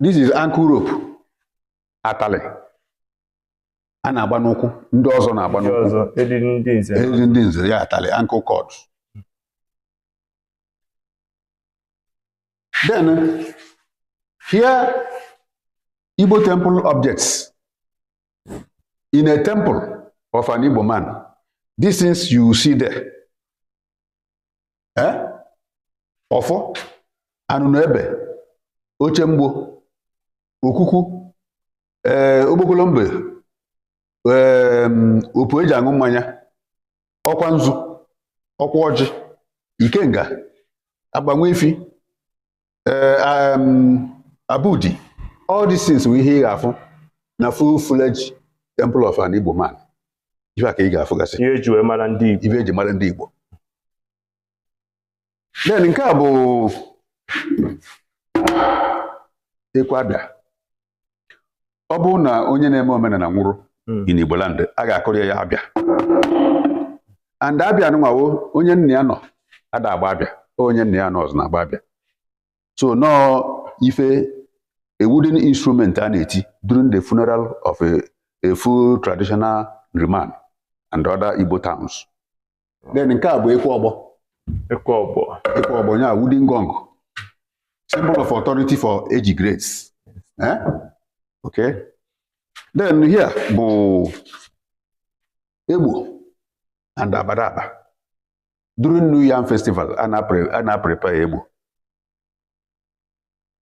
this is ankle rope atalị a na-agba n'ụkwụ ndị ọzọ na-agba n'ụkwụ eriri ndị nze eriri ndị nze ya atalị ankle cord then here Igbo temple objects in a temple of an Igbo man these things you see there ee ọfọ anụnụ ebe oche mgbo okuku ee okpokolo mbe ee opu eji aṅụ mmanya ọkwa nzu ọkwa ọjị ikenga agbanwe ifi eh, um, abudi all these things bụ ihe ị ga-afụ na full fledged temple of an Igbo man ife a ka ị ga-afụgasị ihe eji wee mara ndị Igbo ife eji mara ndị Igbo then nke a bụ ekwe abịa ọ bụrụ na onye na-eme omenala nwụrụ hmm. in Igbo land a ga-akụrụ ya abịa and abịa nwawo onye nna ya nọ ada agba abịa onye nna ya anọọzị na-agba abịa so nọọ ife a wooden instrument a na-eti during the funeral of a, a full traditional Nri man and other Igbo towns then nke a bụ ekwe ọgbọ ekwe ọgbọ ekwe ọgbọ ya wooden gong symbol of authority for age grades eh? okay then here bụ egbo and abadaba during new yam festival a na-prepare egbo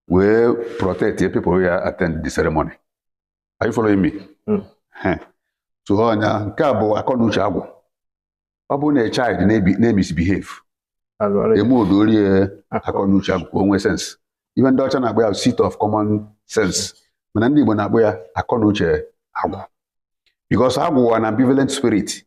wee protect people ya attend the ceremony Are you following me? Hmm. Heh. so nya nke a bụ akọ na uche agwụ ọ bụrụ na a child na-ebi- na-emisbehave Alụ ọrụ ya. emedo o rie akọ na uche agwụ ka o nwee sense ihe ndị ọcha na-akpọ ya bụ seat of common sense mana ndị Igbo na-akpọ ya akọ na uche agwụ because agwụ wụ an ambivalent spirit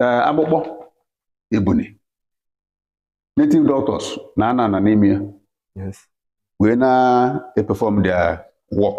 ee, akpụkpọ ebuni native doctors na-anọ anọ n'ime ya Yes. wee na-eperform their work